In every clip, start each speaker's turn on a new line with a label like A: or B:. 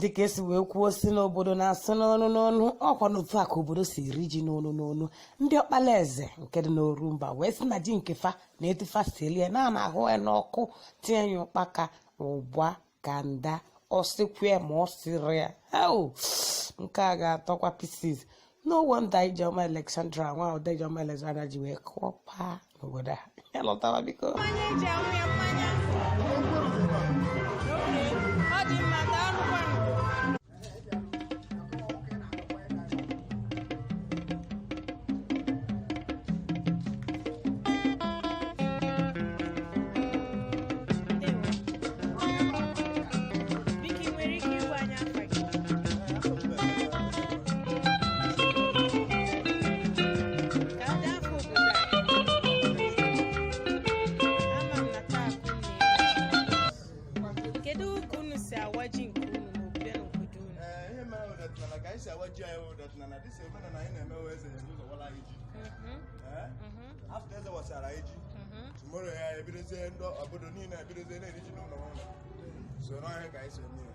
A: dịka esi wee kwuo si n'obodo na-asụ n'ọnụ n'ọnụ ọkwa n'otu a ka obodo si eri ji n'ọnụ n'ọnụ ndị Ọkpalaeze nke dị n'Orumba wee sị na ji nke fa na etu fa si eli ya na a na-ahụ ya n'ọkụ tinye ya ụkpaka ụgba kanda ọ sịkwa ma ọ sịrị ya nke a ga-atọkwa pieces no wonder Ijeoma Alexandra nwada Ijeoma Alexandra ji wee kụọ paa n'obodo a ya lọtawa biko
B: kedu ka unu si awa ji nke unu n'obodo n'obodo unu Ee, ihe mere ọdịnala ka anyị si awa ji anyị ọdịnala dịsi omenala anyị na-eme wee eze ebu ụzọ wara anyị ji Mhm, Ee, mhm, after eze wasịara anyị ji mhm. tomorrow ya ebidozie ndị obodo niile ebidozie na-eri ji n'ụlọ ụlọ so n'ọhịa ka anyị si eme ya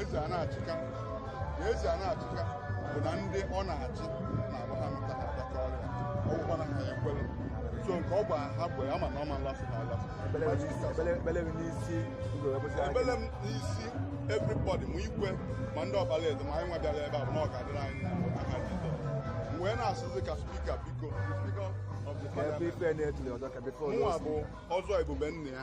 B: eze a na-achịka na eze a na-achịka bụ na ndị ọ na-achị na-agba ha nta ha adaka ọrịa ọgwụkwa na ha ya ekwere so nke ọ bụ ha bụ ya ma na ọ ma nlasị ha alasị ekpele m n'isi everybody ma igwe ma ndị Ọkpalaeze ma anyị nwa bịara ebe a bụ na ọ ga-adịrị anyị n'aha Jizọs m wee na-asịzi ka speaker biko mụnwa bụ ọzọ ebube nna ya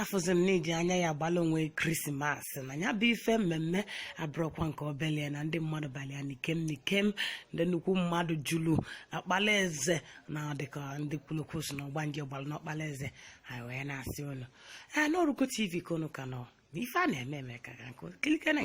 A: afụzi m n'iji anya ya agbala onwe Christmas na ya bụ ife mmemme abụrọkwa nke obele na ndị mmadụ balịa n'ikem n'ikem ndị nnukwu mmadụ julu Ọkpalaeze na dịka ndị kwulu okwu si na ọgbanje gbara n'Ọkpalaeze anyị wee na-asị ụnụ na Orugo TV ka ụnụ ka nọ ife a na-eme eme ka ka nkụ kilikere